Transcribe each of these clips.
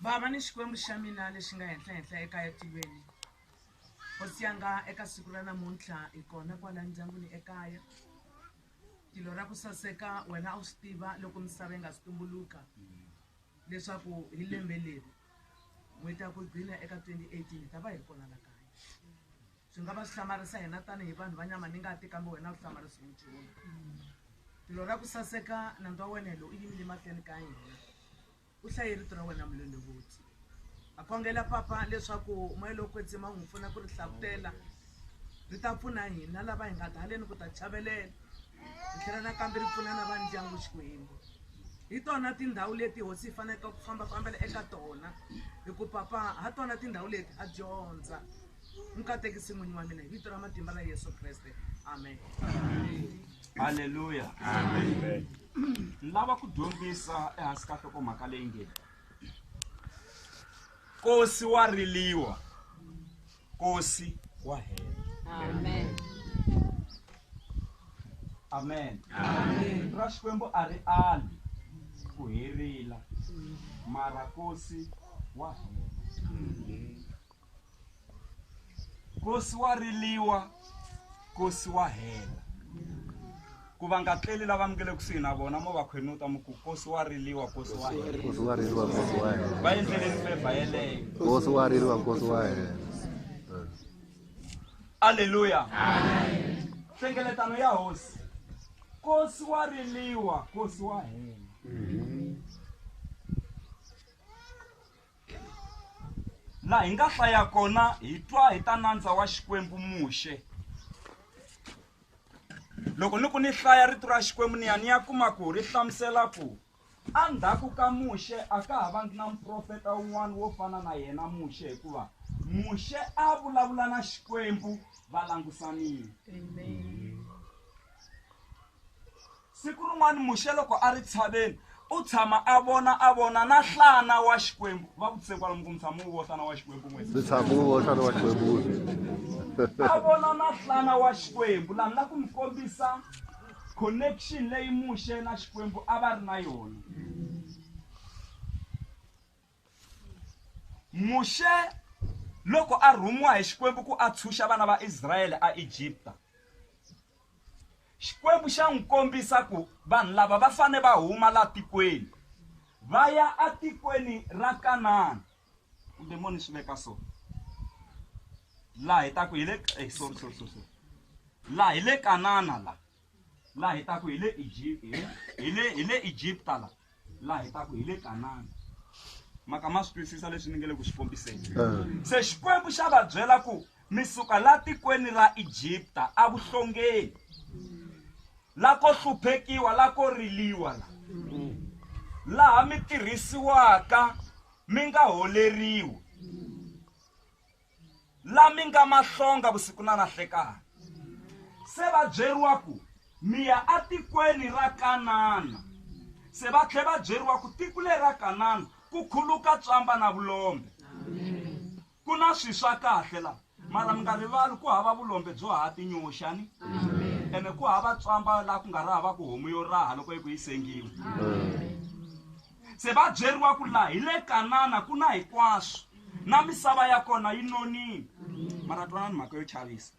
Bava ni Xikwembu xa mina lexi nga henhla-henhla eka etilweni, hosi yanga eka siku ra namuntlha hi kona kwala ndyangwini ekaya. Tilo ra ku saseka wena a wu swi tiva loko misava yi nga si tumbuluka leswaku hi lembe leri n'hweti ya ku gcina eka 2018 hi ta va hi ri kona la kaya. Swi nga va swi hlamarisa hina tanihi vanhu va nyama ni ngati kambe wena a wu hlamarisiwi nchumu. Tilo ra ku saseka nandzu wa wena hi lowu u yimile mahlweni ka hina. U hlaye Rito ra wena Mulondovoti. Ha khongela Papa leswaku moya lowo kwetsima wu hi pfuna ku ri hlavutela. Ri ta pfuna hina lava hi nga ta haleni ku ta chavelela. Ri tlhela nakambe ri pfuna na va ndyangu Xikwembu. Hi tona tindhawu leti Hosi hi faneleke ku fambafambela eka tona hi ku Papa ha tona tindhawu leti ha dyondza. mukatekisi n'winyi wa mina hi vito ra matimba ra yesu kreste amen halleluya ni lava ku dyondzisa ehansi ka nhlokomhaka leyi nge kosi wa riliwa kosi wa hela amen amen ra xikwembu a ri ali ku herila mara kosi wa hela kosi wa riliwa kosi wa hela ku va nga tleli lava mi nge le kusuhi na vona mo va khwenuta mi ku kosi wa riliwa kosi wa hela nkosi wa ririwa nkosi wa hela va endleleni fevha yeleyo nkosi wa ririwa nkosi wa hela aleluya nhlengeletano ya hosi kosi wa riliwa kosi wa hela laha hi nga hlaya kona hi twa hi ta nandza wa xikwembu muxe loko ni ku ni hlaya rito ra xikwembu ni ya ni ya kuma ku ri hlamusela ku endzhaku ka muxe a ka ha vangi na muprofeta un'wana wo fana na yena muxe hikuva muxe a vulavula na xikwembu va langusanile Siku rin'wana Muxe loko a ri tshaveni, u tshama a vona a vona na nhlana wa Xikwembu. Va vutise kwalomu ku mi tshama wu vona wa Xikwembu n'wina? Ndzi tshama wu vona nhlana wa Xikwembu. A vona na nhlana wa Xikwembu. Laha ni la ku mi kombisa connection leyi Muxe na Xikwembu a va ri na yona. muxe loko a rhumiwa hi xikwembu ku a tshunxa vana va israyele a egipta xikwembu xa n'wi kombisa ku vanhu lava va fane va huma la tikweni va ya atikweni ra kanana kumbe moni swi veka so laha hi taku hi le eh, sorry sorry sorry laha hi le kanana la laha hi taku hi le Egypt hi hi le hi le Egypta la laha hi taku hi le Kanana maka ma swi twisisa leswi ni nge le ku swi kombiseni se xikwembu xa va byela ku mi suka la tikweni ra Egypta a vuhlongeni la ko hluphekiwa la ko riliwa la laha mi tirhisiwaka mi nga holeriwi la mi nga mahlonga vusiku na nahlekani se va byeriwa ku mi ya atikweni ra kanana se va tlhe va byeriwa ku tiko leri ra kanana ku khuluka tswamba na vulombe ku na swi swa kahle la mara mi nga rivali ku hava vulombe byo hava tinyoxani ene ku hava tswamba laha ku nga ri hava ku homu yo raha loko yi ku yi sengiwa Se va byeriwa ku laha hi le Kanana ku na hinkwaswo na misava ya kona yi nonile. Mara twanani mhaka yo chavisa.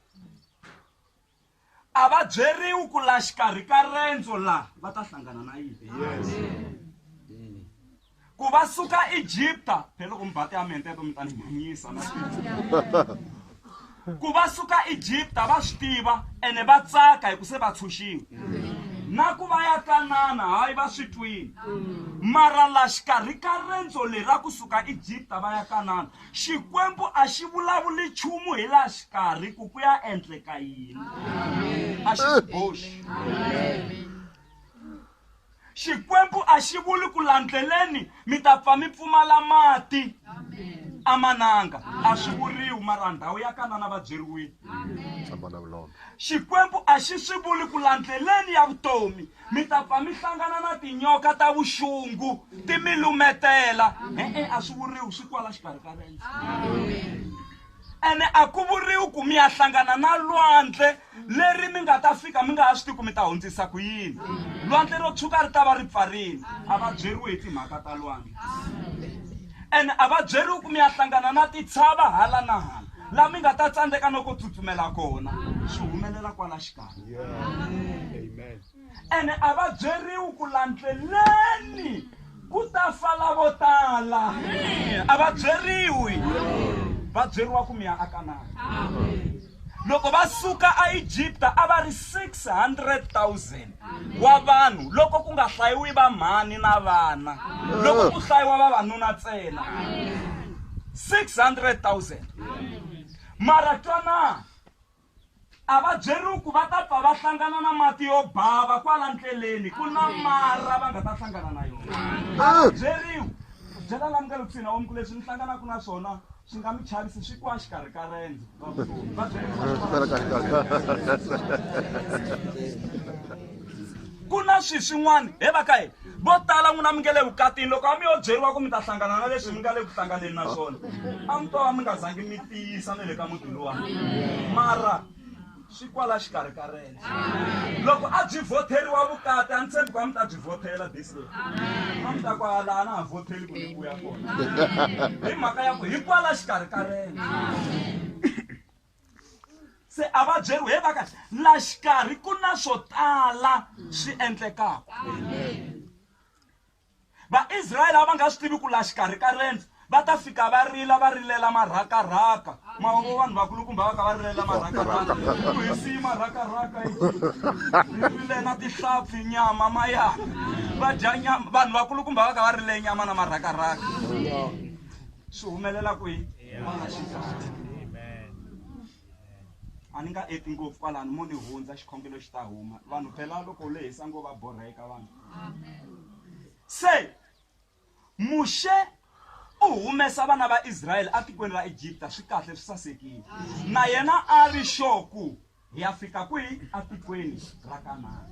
A va byeriwi ku laha xikarhi ka rendzo laha va ta hlangana na yini. Ku va suka Egipta, phela loko mi ba tiamente to mi ta ni manyisa na ku va suka egipta va swi tiva ene va tsaka hi ku se va tshunxiwe na ku va ya kanana hayi va swi twile mara la xikarhi ka rendzo leri ra kusuka egipta va ya kanana xikwembu a xi vulavuli nchumu hi la xikarhi ku ku ya endleka yini a xi swi boxi Xikwembu a xi vuli ku landzeleni mi ta pfa mi pfumala mati amananga a swi vuriwi mara ndhawu ya kanana va byeriwile xikwembu a xi swi vuli ku landzeleni ya vutomi mi ta pfa mi hlangana na tinyoka ta vuxungu ti mi lumetela e-e a swi vuriwi swi kwala xikarhi ka rendzo ene a ku vuriwi ku mi ya hlangana na lwandle leri mi nga ta fika mi nga ha swi tivi ku mi ta hundzisa ku yini lwandle ro tshuka ri ta va ri pfarini a va byeriwi hi timhaka ta lwandle ene a va byeriwi ku mi ya hlangana na titshava hala na hala laha mi nga ta tsandzeka no ko tsutsumela kona swi humelela kwala xikarhi ene a va byeriwi ku landzeleni ku ta fa lavo tala a va byeriwi va byeriwa ku mi ya akanani loko va suka aegipta a va ri 600000 wa vanhu loko ku nga hlayiwi vamhani na vana loko ku hlayiwa vavanuna ntsena 600000 mara twanani A va byeriwi ku va ta pfa va hlangana na mati yo bava kwala ndleleni, ku na mara va nga ta hlangana na yona. A va byeriwi ku byela la mi nga le kusuhi na vomu ku leswi mi hlanganaka na swona swi nga mi chavisi swi kwa xikarhi ka rendzo ra vutomi. Va byeriwi ku na swi swin'wana he va ka hina vo tala n'wina mi nge le vukatini loko a mi yo byeriwa ku mi ta hlangana na leswi mi nga le ku hlanganeni na swona a mi to va mi nga zangi mi tiyisa na le ka muti luwani mara swi kwala xikarhi ka rena loko a byi vhoteriwa vukati a ni tshembi ku a mi ta byi vhotela this day a mi ta ku a laha na ha vhoteli ku ni vuya kona hi mhaka ya ku hi kwala xikarhi ka rena se a va byeriwe he vaka la xikarhi ku na swo tala swi endlekaka vaisrayele a va nga swi tivi ku la xikarhi ka rendzo va ta fika va rila va rilela marhakarhaka mavongo vanhu vakulukumba va ka va rilela marhakarhaka ku hisiyi marhakarhaka rile na tihlampfi nyama mayaka va dya nyama vanhu vakulukumba va ka va rile nyama na marhakarhaka swi humelela kwihi N'wana xisati. A ni nga eti ngopfu kwalano mo ni hundza xikhongelo xi ta huma. Vanhu phela loko u lehisa ngo va borheka vanhu. Se Muxe u humesa vana va Israyele etikweni ra Egipta swi kahle swi sasekile. Na yena a ri sure ku hi ya fika kwihi atikweni ra kanana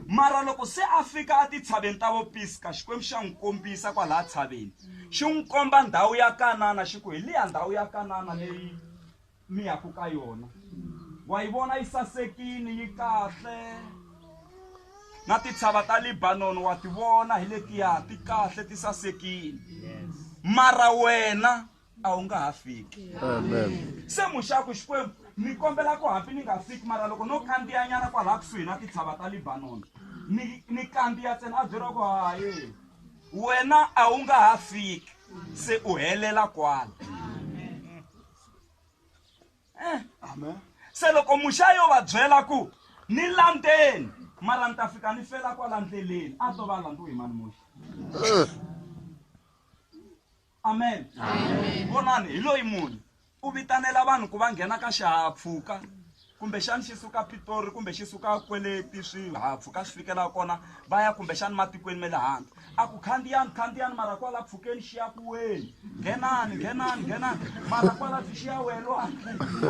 mara loko se a fika etintshaveni ta vopiska xikwembu xa n'wi kombisa kwalaha tshaveni xi n'wi komba ndhawu ya kanana xi ku hi liya ndhawu ya kanana leyi mi yaku ka yona wa yi vona yi sasekini yi kahle na titshava ta libanoni wa ti vona hi letiya ti kahle ti sasekini mara wena a wu nga ha fiki se muxaku xikwembu ni kombela ku hambi ni nga fiki mara loko no kandziyanyana kwalaha kusuhi na titshava ta libanoni ni ni kandziya ntsena a byeriwa ku haye wena a wu nga ha fiki se u helela kwala eh. se loko muxa yo va byela ku ni landzeni mara ni ta fika ni fela kwala ndleleni a to va landziwe hi mani muxa eh. amen vonani hi loyi munhu u vitanela vanhu ku va nghena ka xihahampfhuka kumbexani xi suka pitori kumbe xi suka kweleti swihahampfhuka swi fikela kona va ya kumbexani matikweni ma le handle a ku khandziyani khandziyani mara kwala pfhukeni xi ya ku weni nghenani nghenani nghenani mara kwala byi xi ya welwa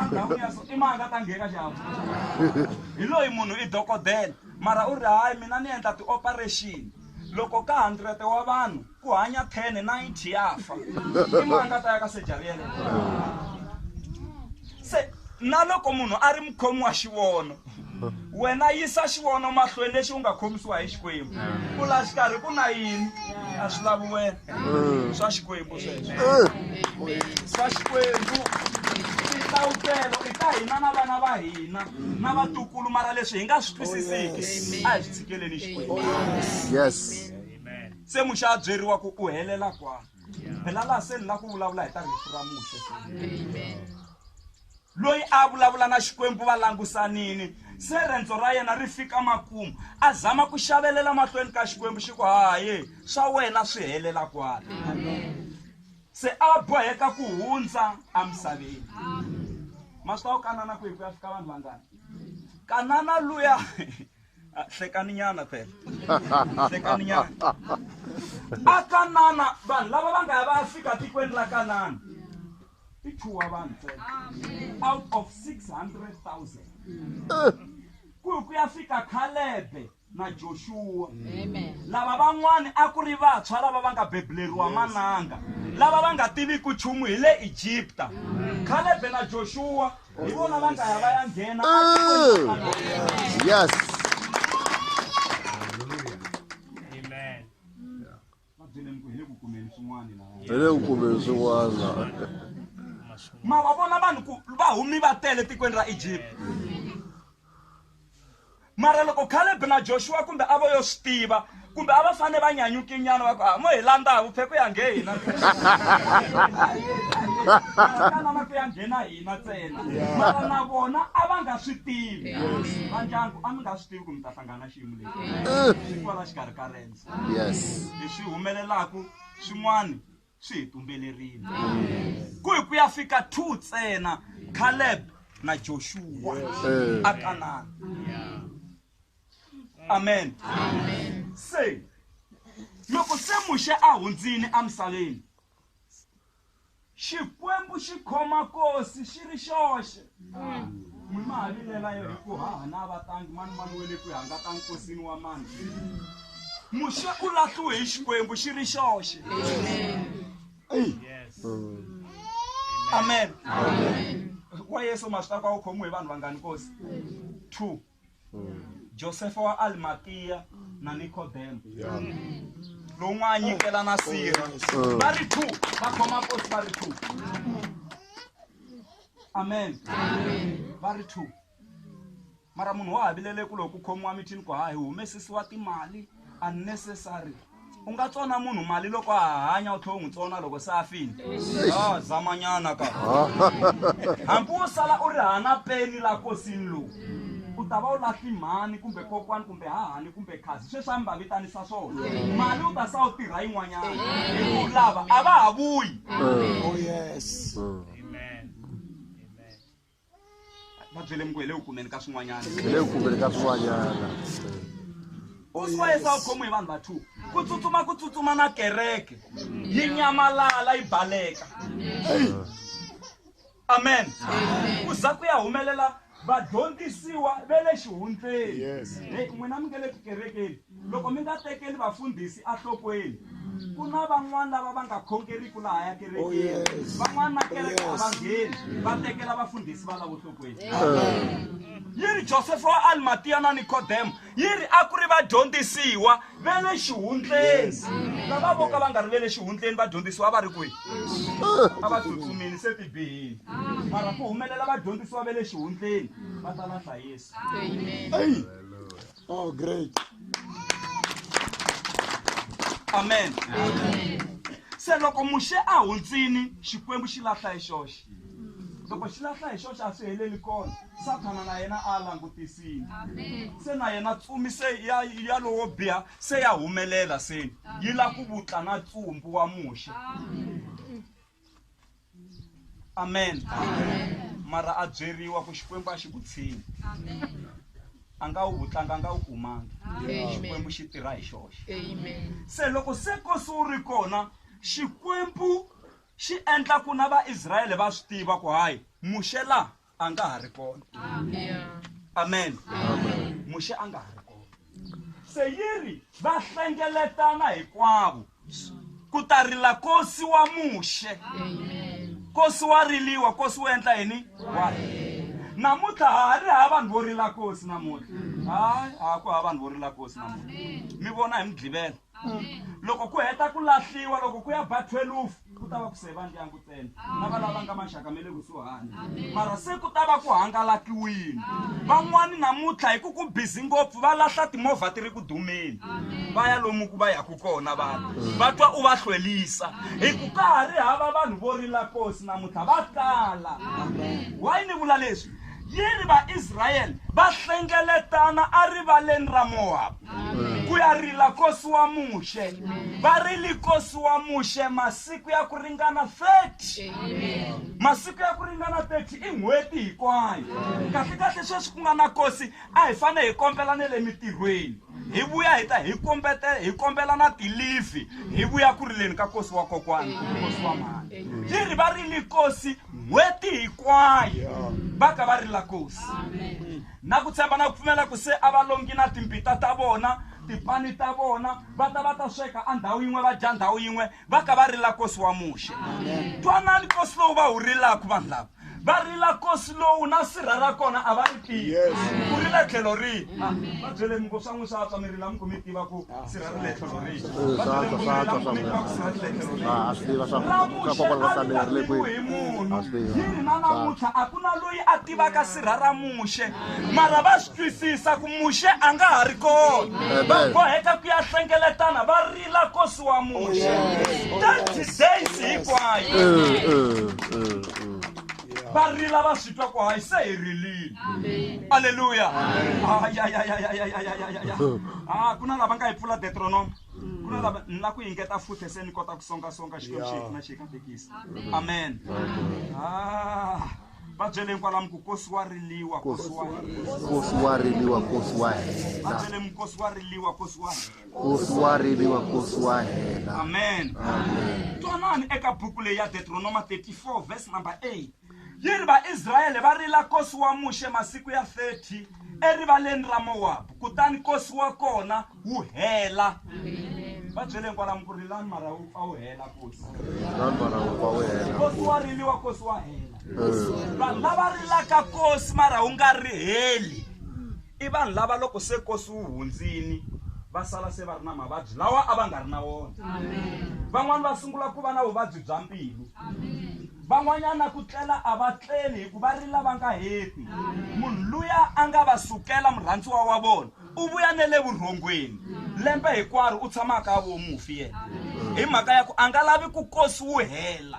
endhawini ya so i manga ta nghena xihahampfhuka hi loyi munhu i dokodela mara u ri hayi mina ni endla ti-operation loko ka hundred wa vanhu ku hanya 10 90 ya fa i mani a ta ya ka sejari yeleyo se na loko munhu a ri mukhomi wa xivono wena yisa xivono mahlweni lexi u nga khomisiwa hi xikwembu ku la xikarhi ku na yini a swi lavi wena swa xikwembu sweswo swa xikwembu tinhlawutelo i ta hina na vana va hina na vatukulu mara leswi hi nga swi twisisiki a hi swi tshikeleni xikwembu yes se muxe a byeriwa ku u helela kwani phela laha se ni la ku vulavula hi ta rifu ra muxe loyi a vulavula na xikwembu va langusanini se rendzo ra yena ri fika makumu a zama ku xavelela mahlweni ka xikwembu xi ku haye swa wena swi helela kwala se a boheka ku hundza emisaveni ma swi ta wu kanana ku hi ku ya fika vanhu vangani kanana luya Ah, hlekani nyana phela hlekani nyana a kanana vanhu lava va nga ya va ya fika tikweni ra kanana i chuwa vanhu ntsena out of 600000 ku hi ku ya fika khalebe na joshuwa lava van'wani a ku ri vantshwa lava va nga bebuleriwa mananga lava va nga tiviki nchumu hi le egipta khalebe na joshuwa hi vona va nga ya va ya nghena yes hi le ku kumeni swin'wana ma va vona vanhu ku va humi va tele etikweni ra egypt mara loko caleb na joshua kumbe a vo yo swi tiva kumbe a va fane va nyanyukinyana va ku a ah, mo hi landza vuphephe ya nge hina tanana ku ya nghena hina ntsena mara na vona a va nga swi tivi va ndyangu a mi nga swi tivi ku mi ta hlangana xiyimo lexi swi kwala xikarhi ka rendzo leswi humelelaku swin'wani swi hi tumbelerile ku hi ku ya fika two tsena caleb na joshua a kanana amen se loko se muxe a hundzini emisaveni xikwembu xi khoma kosi xi ri xoxe ni mali lelayo hi ku haha na vatangi mani mani we le ku hanga ka nkosini wa mani muxe u lahliwe hi xikwembu xi ri xoxe Eyi. amen wa yesu ma swi ta ku a wu khomiwe hi vanhu vangani kosi two josefa wa alimatiya na nikodemo lowun'we a nyikela na siri va ri two va khoma kosi va ri two amen va ri two mara munhu wa havilele ku loko ku khomiwa mithini ku hayi humesisiwa timali unnecessary u nga tsona munhu mali loko a hanya u tlhela u n'wi tsona loko se a fini a zamanyana ka hambi wo sala u ri hana peni la kosini lowu u ta va u lahli mhani kumbe kokwani kumbe hahani kumbe khazi sweswi a mi va vitanisa swona mali u ta sa u tirha yin'wanyana hiku lava a va ha vuyi oh yes Amen. va byele mi ku hi le ku kumeni ka swin'wanyana hi le ku kumeni ka swin'wanyana uswayesa u khomiwe hi vanhu va two ku tsutsuma ku tsutsuma na kereke yi nyamalala yi baleka amen ku za ku ya humelela vadyondzisiwa ve le xihundleni e n'wina mi nge le tikerekeni Loko mi nga tekeli vafundhisi enhlokweni, ku na van'wana lava va nga khongeriki lahaya kerekeni. Van'wana na kereke a va ngheni va tekela vafundhisi valavo enhlokweni. Yi ri Josefa wa Alimatiya na Nikodemo yi ri a ku ri vadyondzisiwa va le xihundleni. Lava vo ka va nga ri ve le xihundleni vadyondzisiwa a va ri kwihi? A va tsutsumile se ti bihile. Mara ku humelela vadyondzisiwa va le xihundleni va ta lahla Yesu. Eyi! Oh, great. amen se loko muxe a hundzini xikwembu xi lahla hi xoxe loko xi lahla hi xoxe a swi heleli kona sathana na yena a langutisile se na yena tsumi se ya ya lowo biha se ya humelela se yi la ku vutla na tsumbu wa muxe amen, amen. mara a byeriwa ku xikwembu a xi ku tshini a nga wu tlanga a nga wu kumangi xikwembu xi tirha hi xoxe se loko se kosi wu ri kona xikwembu xi endla ku na vaisrayele va swi tiva ku hayi muxe laha a nga ha ri kona amen muxe a nga ha ri kona se yi ri va hlengeletana hinkwavo ku ta rila kosi wa muxe kosi wa riliwa kosi wu endla yini wa namuntlha ha ha ri ha vanhu vo rila kosi namuntlha hayi ha ku ha vanhu vo rila kosi namuntlha mi vona hi mudlivela loko ku heta ku lahliwa loko ku ya ba 12 ku ta va ku seva ndyangu ntsena na va lava nga maxaka me le kusuhani mara se ku ta va ku hangalakiwile van'wani namuntlha hi ku ku bizi ngopfu va lahla timovha ti ri ku dumeni va ya lomu ku va yaku kona vanhu va twa u va hlwelisa hi ku ka ha ri hava vanhu vo rila kosi namuntlha va kala wayi ni vula leswi yi ri Vaisrayele va hlengeletana arivaleni ra Mowabu ku ya rila kosi wa Muxe. Va rile kosi wa Muxe masiku ya ku ringana 30. Masiku ya ku ringana 30 i n'hweti hikwayo. Kahle-kahle sweswi ku nga na kosi a hi fane hi kombela ne le mitirhweni. hi vuya hi ta hi kombete hi kombela na tilifi hi vuya ku rileni ka kosi wa kokwana kosi wa mhani yi ri va rile kosi n'hweti hinkwayo va ka va rila kosi na ku tshemba na ku pfumela ku se a va longi na timpita ta vona tipani ta vona va ta va ta sweka a ndhawu yin'we va dya ndhawu yin'we va ka va rila kosi wa muxe twanani kosi lowu va wu rilaka vanhu lava va rila kosi lowu na sirha ra kona a va ri tivi ku ri le tlhelo rihi va byeleni ku swa n'wi swa tswa mi rila mi ku mi tiva ku sirha ri le tlhelo rihi va byeleni ku mi rila mi ku mi tiva ku sirha ri le tlhelo rihi Ah, a swi tiva swa ra swa kokwana va muxe a ri tsamerile ku hi munhu a swi tiva yini na namuntlha a ku na loyi a tivaka sirha ra muxe mara va swi twisisa ku muxe a nga ha ri kona va Amen. boheka ku ya hlengeletana va ri tlakusiwa muxe that days hinkwayo varila va swi twa ku hayi se hi rilile aleluya a ku na lava nga yi pfula detronoma ku na lava ni la ku yingeta futhi se ni kota ku songasonga xikwembu xi hina xi katekisa amen va byeleni kwalamu ku kosi wa riliwa kosi wa riliwa kosi wa hela va byeleni kosi wa riliwa kosi wa hela Nkosi wa riviwa, Nkosi wa hela. Amen. Amen. Twanani eka buku leyi ya Deuteronoma 34 verse number 8. Yi ri Vaisrayele va rila Nkosi wa Muxe masiku ya 30 erivaleni ra Mowabu, kutani Nkosi wa kona wu hela. Va byele hinkwalamu ku rilani mara wu pfa wu hela Nkosi. Rilani mara wu pfa wu hela. Nkosi wa riliwa, Nkosi wa hela. Vanhu lava rilaka Nkosi mara wu nga ri heli. I vanhu lava loko se nkosi wu hundzini va sala se va ri na mavabyi lawa a va nga ri na wona. Van'wana va sungula ku va na vuvabyi bya mbilu. Van'wanyana na ku tlela a va tleli hi ku va rila va nga heti. Munhu luya a nga va sukela murhandziwa wa vona u vuya ne le vurhongweni lembe hinkwaro u tshama a ka vo mufi yena hi mhaka ya ku a nga lavi ku nkosi wu hela.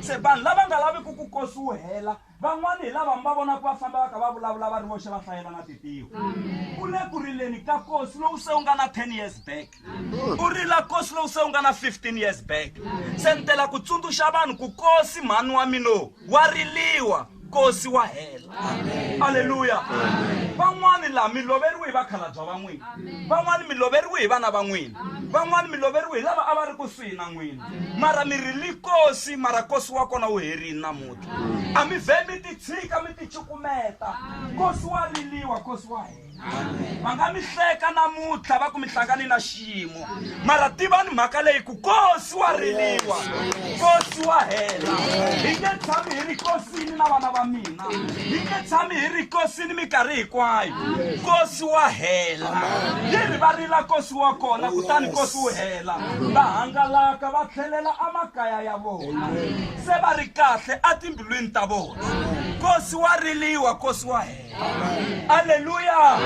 Se vanhu lava nga laviki ku nkosi wu hela Van'wana hi lava mi va vonaka va famba va kha va vulavula va ri voxe va hlayela na titiwa. U le ku rileni ka kosi lowu se u nga na 10 years back. U rila kosi lowu se u nga na 15 years back. Se ni tela ku tsundzuxa vanhu ku kosi mhani wa mino wa riliwa kosi wa hela. Aleluya. Van'wana laha mi loveriwe hi vakhalabya va n'wina. Van'wana mi loveriwe hi vana va n'wina. Van'wana mi loveriwe hi lava a va ri kusuhi na n'wina. Mara mi rili kosi mara kosi wa kona wu herile namuntlha. a mi vhe mi ti tshika mi ti cukumeta kosi wa riliwa kosi wa hina va nga mi hleka namuntlha va ku mi hlangane na xiyimo mara tivani mhaka leyi ku kosi wa riliwa kosi wa hela hi nge tshami hi ri kosini na vana va mina hi nge tshami hi ri kosini minkarhi hinkwayo kosi wa hela yi ri va rila kosi wa kona kutani kosi wu hela va hangalaka va tlhelela emakaya ya vona se va ri kahle etimbilwini ta vona nkosi wa riliwa nkosi wa hela aleluya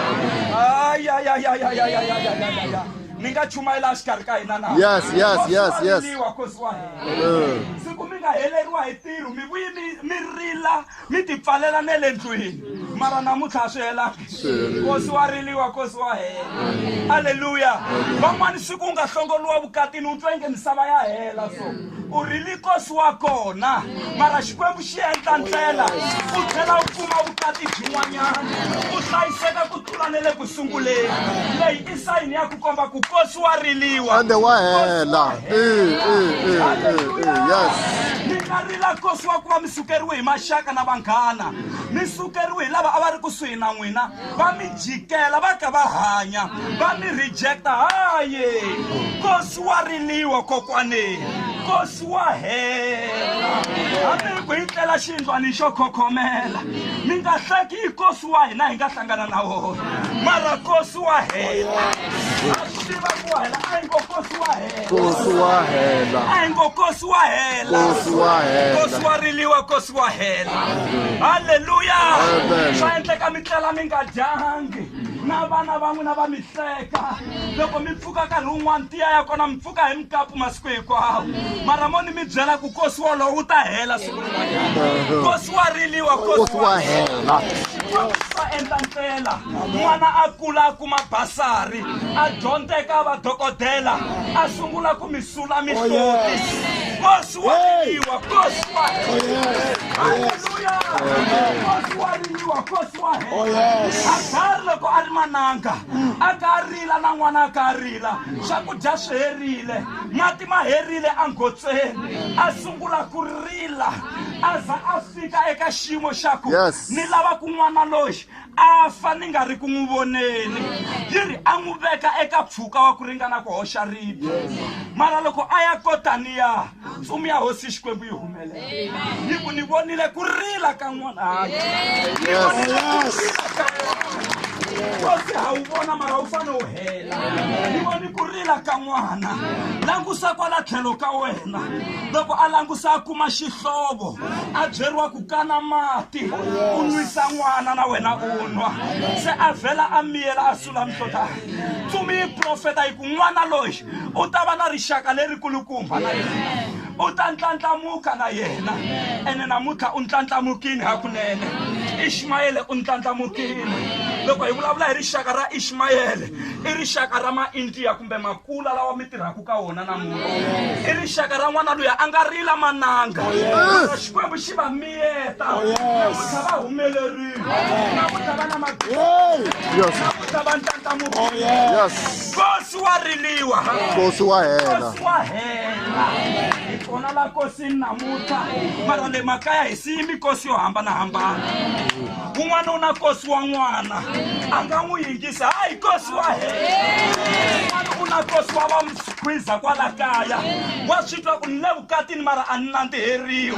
ayayayayayayayayaya mi nga chumayela exikarhi ka hina na yes yes yes yes nkosi wa hela siku mi nga heleriwa hi ntirho mi vuyi mi mi rila mi ti pfalela ne le ndlwini mara namuntlha a swi hela kosi wa riliwa kosi wa hela aleluya van'wani siku u nga hlongoliwa vukatini u twa inge misava ya hela so u rili kosi wa kona mara xikwembu xi endla ndlela u tlhela u kuma vukati byin'wanyana u hlayiseka ku tlula ne le ku sunguleni leyi sign ya ku komba ku kosi wa riliwa ande wa hela eh, eh, eh, yes mi nga rila kosi wa ku va mi sukeriwe hi maxaka na vanghana mi sukeriwe hi lava a va ri kusuhi na n'wina va mi jikela va ka va hanya va mi rejecta haye kosi wa riliwa kokwaneni kosi wa hela hambi ku yi tlela xindlwani xo khokhomela mi nga hleki yi kosi twa hi la hi nga hlangana na wona mara kosi wa hela a swi tiva ku hela a hi ngo kosi wa hela kosi wa hela a hi ngo kosi wa hela kosi wa hela kosi wa riliwa kosi wa hela halleluya swa endleka mi tlela mi nga dyangi na vana va n'wina va mi hleka loko mi pfuka nkarhi wun'wana tiya ya kona mi pfuka hi mukapu masiku hinkwawo mara mo ni mi byela ku kosi wolowo wu ta hela siku rin'wanyana kosi wa riliwa kosi wa hela va endla ndlela n'wana a kula a kuma basari a dyondzeka va dokodela a sungula ku mi sula mihloti kosi wa riliwa kosi wa haleluya kosi wa riliwa kosi wa hela agari loko a ri mananga a ka a rila na n'wana a ka a rila swakudya swi herile mati ma herile anghotseni a sungula ku rila a za a fika eka xiyimo xa ku ni lava kun'wana loyi a fa ni nga ri ku n'wi voneni yi ri a n'wi veka eka mpfhuka wa ku ringana ku hoxa ribi mara loko a ya kotaniya ntsumi ya hosi xikwembu yi humelela hi ku ni vonile ku rila ka n'wanaka kosi ha wu vona mara wu fane wu hela ni voni ku rila ka n'wana langusa kwala tlhelo ka wena loko a langusa a kuma xihlovo a byeriwa ku kana mati u nwisa n'wana na wena u nwa se a vhela a miyela a sula mihlota tsumi yi profeta hi ku n'wana loyi u ta va na rixaka leri kulukumba na yena u ta ntlandlamuka na yena ene namuntlha u ntlandlamukini hakunene ishmayele u ntlandlamukini loko hi vulavula hi rixaka ra ishmayele i rixaka ra maindiya kumbe makula lawa mi tirhaka ka wona namuntlha i rixaka ra n'wana loyi a nga rila mananga oh, xikwembu xi va miyeta oh, namuntlha va humelerile namuntlha va na mabilamuntlha va ntlandlamuki oh, nkosi wa riliwa nkosi wa hela nkosi wa hela hi kona la nkosini namuntlha mara le makaya hi siyi mikosi yo hambanahambana un'wana u na nkosi wa n'wana a nga n'wi yingisa hayi nkosi wa hela u na nkosi wa va mkhwiza kwala kaya wa swi twa ku ni le vukatini mara a ni nandziheriwi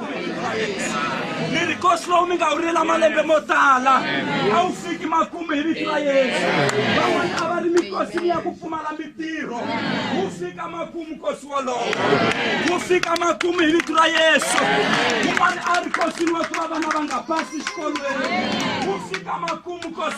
mi ri kosi lowu mi nga wu rila malembe mo tala a wu fiki makumu hi vito ra yesu van'wana a va ri mikosi ni ya ku pfumala mitirho wu fika makumu kosi wolowo wu fika makumu hi vito ra yesu un'wana a ri kosini wa ku va vana va nga basi xikolweni wu fika makumu kosi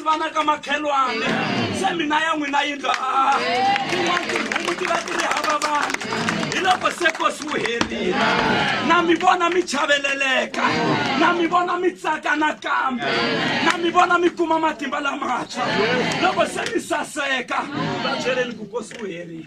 vana ka makhelwane se mina ya n'wina yindlu a tin'wana tinhumu ti va ti ri hava vanhu hi loko se kosi wu herile na mi vona mi chaveleleka na mi vona mi tsaka nakambe na mi vona mi kuma matimba lamatshwa loko se mi saseka va byeleni ku kosi wu herile